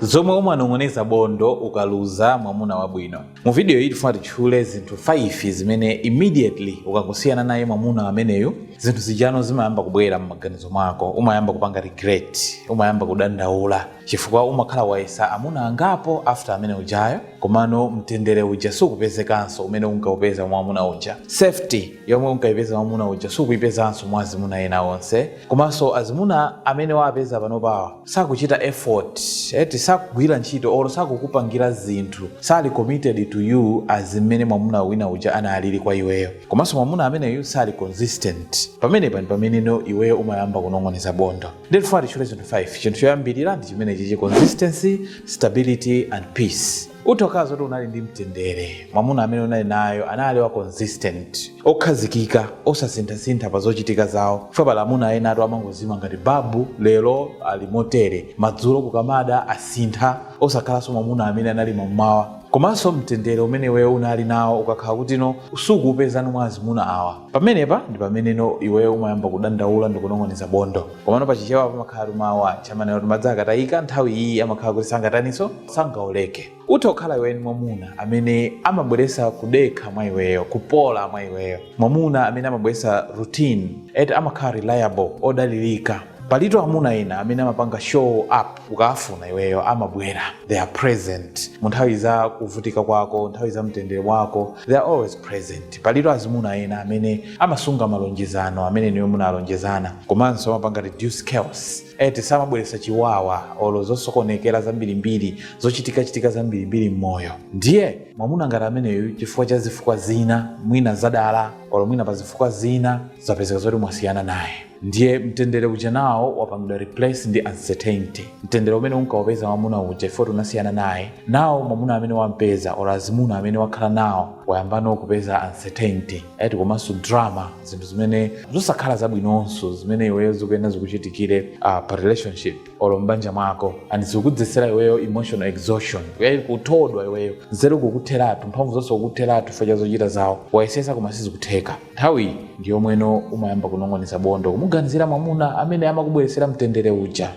Zomwe umanong'oneza bondo ukaluza mwamuna wabwino. Mu video iyi tifuna titchule zinthu 5 zimene immediately ukangosiyana naye mwamuna ameneyu zinthu zijano zimayamba kubwera m'maganizo mwako, umayamba kupanga regret, umayamba kudandaula chifukwa umakhala wayesa amuna angapo after amene ujayo, komano mtendere uja sukupezekanso umene unkaupeza mwa mwamuna uja. Safety yomwe unkaipeza mwamuna uja sukuipezanso mwa azimuna ena onse, komanso azimuna amene waapeza panopawa sakuchita effort eti sakugwira ntchito olo sakukupangira zinthu sali committed to you as mmene mwamuna wina uja analili kwa iweyo komanso mwamuna ameneyu sali consistent pamenepa ndi pameneno iweyo umayamba kunong'oneza bondo nde tifuna titchule zinthu 5 chinthu choyambirira ndi chimenechi chi consistency stability and peace utha kukhala zoti unali ndi mtendere mwamuna amene unali naye anali wa consistent okhazikika osasinthasintha pa zochitika zawo chifukwa pali amuna enatu amangozima ngati babu lero ali motere madzulo kukamada asintha osakhalanso mwamuna amene anali mamawa komanso mtendere umene iweyo unali nawo ukakhala kutino sukuupezano mwa azimuna awa Pamenepa ndi pameneno iweyo umayamba kudandaula ndikunong'oneza bondo. Komano pa Chichewa pamakhalatu mawu aja amanena kuti madzi akatayika nthawi iyi amakhala kuti sangataninso? Sangaoleke. Utha kukhala iwe unali ndi mwamuna amene amabweresa kudekha mwa iweyo, kupola mwa iweyo. Mwamuna amene amabweresa routine eti amakhala reliable, odalirika. Palitu amuna ena amene amapanga show up ukaafuna iweyo amabwera, they are present. Munthawi za kuvutika kwako, nthawi za mtendere wako, they are always present. Palitu azimuna ena amene amasunga malonjezano amene inuyo munalonjezana komanso amapanga reduce chaos eti samabweresa chiwawa olo zosokonekera zambirimbiri zochitikachitika zambirimbiri mmoyo ndiye mwamuna ngati ameneyu chifukwa cha zifukwa zina mwina zadala olo mwina pazifukwa zina zapezeka zoti mwasiyana naye ndiye mtendere uja now wapangidwa replace ndi uncertainty mtendere umene unkawupeza mwamuna uja chifukwa choti unasiyana naye now mwamuna amene wampeza or azimuna amene wakhala nawo wayambano kupeza uncertainty eti komanso drama zinthu zimene zosakhala zabwinonso zimene iweyo zikuyenda zikuchitikire uh, pa relationship olo mbanja mwako and zikudzetsera iweyo emotional exhaustion yayi kuthodwa iweyo nzeru kukutheratu mphamvu zonse kukutheratu chifukwa cha zochita zawo wayesesa koma sizikutheka Nthawi iyi ndi yomweno umayamba kunong'oneza bondo kumuganizira mwamuna amene amakubweretsera mtendere uja.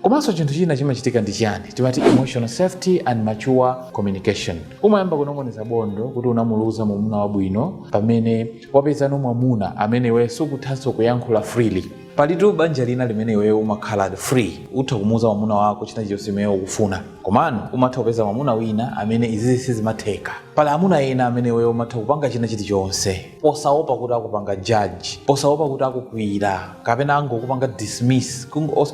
Komanso chinthu china chimachitika ndi chiyani? Timati emotional safety and mature communication. Umayamba kunong'oneza bondo kuti unamuluza mwamuna wabwino pamene wapezano mwamuna amene iweyo sukuthanso kuyankhula freely. palitu banja lina limene iweyo umakhala free utha kumuuza mwamuna wako china chilichonse chimene ukufuna komano umatha kupeza mwamuna wina amene izizi sizimatheka pali amuna ena amene iweyo umatha kupanga china chilichonse posaopa kuti akupanga judge posaopa kuti akukwiyira kapena angokupanga dismiss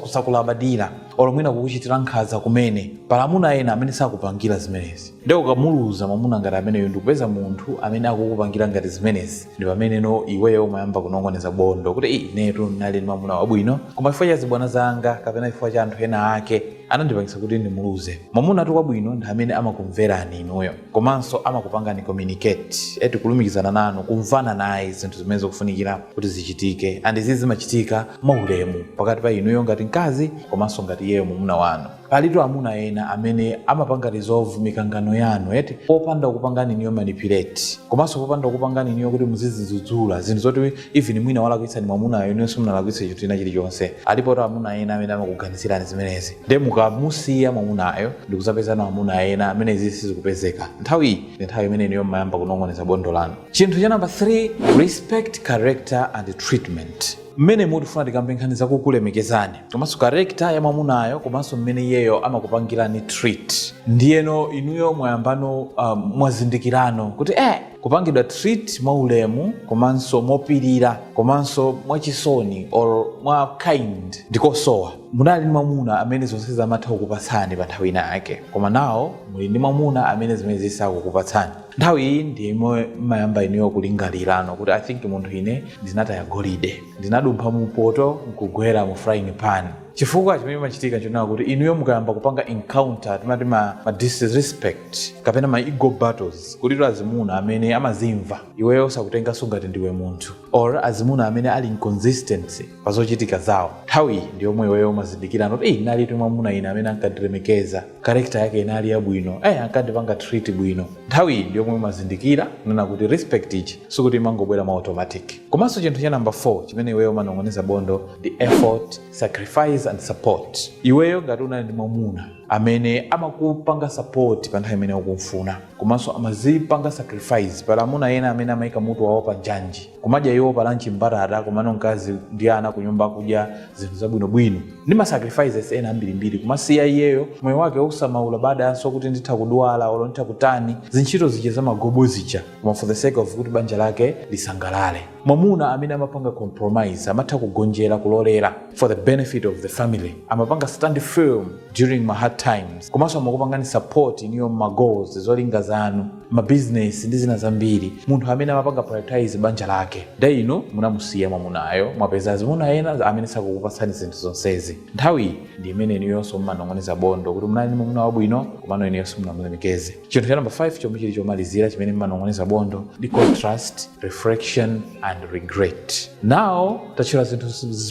kusakulabadira olo mwina kukuchitira nkhanza kumene pali amuna ena amene sakupangira zimenezi nde ukamuluza mwamuna ngati ameneyo ndikupeza munthu amene akukupangira ngati zimenezi ndi pameneno iweyo umayamba kunong'oneza bondo kuti "Ei, inetu ndinali ndi mwamuna wabwino koma chifukwa cha zibwana zanga kapena chifukwa cha anthu ena ake anandipangisa kuti ndimuluze mwamunatu wabwino ndi amene amakumverani inuyo komanso amakupangani communicate eti kulumikizana nanu kumvana naye zinthu zimene zikufunikira kuti zichitike and izi zimachitika mwaulemu pakati pa inuyo ngati mkazi komanso ngati iyeyo mwamuna wanu Palitu amuna ena amene amapanga resolve mikangano yanu eti popanda kukupangani inuyo manipulate komanso popanda kukupangani inuyo kuti muzizidzudzula zinthu zoti even mwina walakwitsa ndi mwamunayo inuyo simunalakwitsa chinthu china chilichonse. Alipotu amuna ena amene amakuganizirani zimenezi nde mukamusiya mwamunayo ndikuzapezano amuna ena amene izizi sizikupezeka nthawiyi ndi nthawi imene inuyo mmayamba kunong'oneza bondo lanu. Chinthu cha number 3 respect character and treatment. mmenemu tifuna tikambe nkhani zakukulemekezani komanso character ya mwamunayo komanso mmene iyeyo amakupangirani treat ndiyeno inuyo mwayambano um, mwazindikirano kuti eh, kupangidwa treat mwaulemu komanso mopirira komanso mwachisoni or mwa kind ndikosowa munali ndi mwamuna amene zonsezi amatha kukupatsani pa nthawi ina yake koma now muli ndi mwamuna amene zimenezi sakukupatsani nthawi iyi ndi yomwe mmayamba inuyo kulingalirano kuti i think munthu ine ndinataya golide ndinadumpha mu poto nkugwera mu frying pan chifukwa chimene chimachitika chonena kuti inuyo mukayamba kupanga encounter timati ma, ma disrespect kapena ma ego battles kuli azimuna amene amazimva iweyo sakutengaso ngati ndiwe munthu or azimuna amene ali inconsistency pa zochitika zawo. Nthawi iyi ndi yomwe iweyo umazindikirano kuti eyi ndinalitu mwamuna ine amene ankandilemekeza, character yake inali yabwino, eh ankandipanga treat bwino. Nthawi iyi ndi yomwe umazindikira kunena kuti respect ija sikuti imangobwera mwa automatic. Komanso chinthu cha number 4 chimene iweyo umanong'oneza bondo ndi effort, sacrifice and support. Iweyo ngati unali ndi mwamuna amene amakupanga support pa nthawi imene ukumfuna komanso amazipanga sacrifice pali amuna ena amene amaika mutu wawo pa njanji kumadya iwo pa lunch mbatata komano mkazi ndi ana ku nyumba akudya zinthu zabwinobwino ndi ma sacrifices ena ambirimbiri kumasiya iyeyo moyo wake osamaulabadiranso kuti nditha kudwala olo nditha kutani zintchito zija zamagobo zija koma for the sake of kuti banja lake lisangalale mwamuna amene amapanga compromise amatha kugonjera kulolera for the benefit of the family amapanga stand firm during ma hard times komanso amakupangani support iniyo ma goals zolinga zanu ma business ndi zina zambiri munthu amene amapanga prioritize banja lake nde inu munamusiya mwamunayo mwapeza azimuna ena amene sakukupatsani zinthu zonsezi nthawi iyi ndi imene inuyonso mumanong'oneza bondo kuti munali ndi mwamuna wabwino komano inuyonso musanamulemekeze chinthu cha number 5 chomwe chili chomalizira chimene mmanong'oneza bondo ndi contrast reflection and regret now tatchula zinthu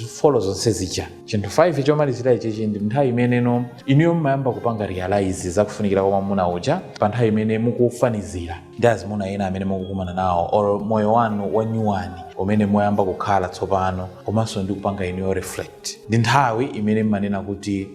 folo zonse zija chinthu 5 chomalizira ichichi ndi nthawi imeneno inuyo mmayamba kupanga realize zakufunikira kwa mwamuna uja pa nthawi imene mukufanizira ndi azimuna ena amene mukukumana nawo or moyo wanu wanyuwani umene mwayamba kukhala tsopano komanso ndi kupanga iniyo reflect ndi nthawi imene mmanena kuti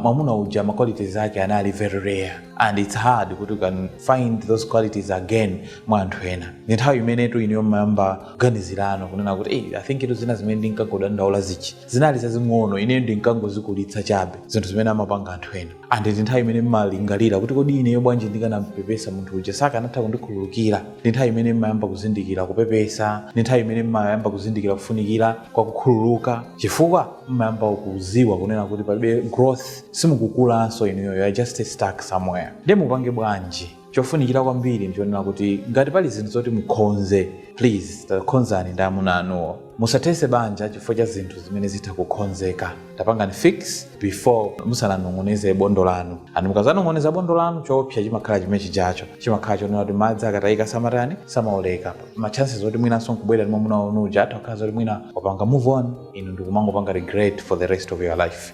mwamuna uja ma qualities ake anali very rare and its hard kuti you can find those qualities again mwa anthu ena ndi nthawi imenetu iniyo mmayamba kuganizirano kunena kuti hey, i think kuti zina zimene ndinkangodandaula zija zinali zazing'ono ineyo ndinkangozikulitsa chabe zinthu zimene amapanga anthu ena and ndi nthawi imene mmalingalira kuti kodi ineyo bwanji ndikanampepesa munthu uja sakanatha kundikhululukira ndi nthawi imene mmayamba kuzindikira kupepesa ndi nthawi imene mmayamba kuzindikira kufunikira kwa kukhululuka chifukwa mmayamba kuziwa kunena kuti palibe growth simukukulanso inuyo you are just stuck somewhere nde mupange bwanji chofunikira kwambiri ndichonena kuti ngati pali zinthu zoti mukhonze please takhonzani ndi amuna anuwo musathese banja chifukwa cha zinthu zimene zitha kukhonzeka tapangani fix before musananong'oneze bondo lanu and mukazanong'oneza bondo lanu choopsa chimakhala chimene chijacho chimakhala chonena kuti madzi akatayika samatani samawoleka machances oti mwinanso nkubwera ndi mwamuna wanu uja atha kukhala zoti mwina wapanga move on inu ndikumangopanga regret for the rest of your life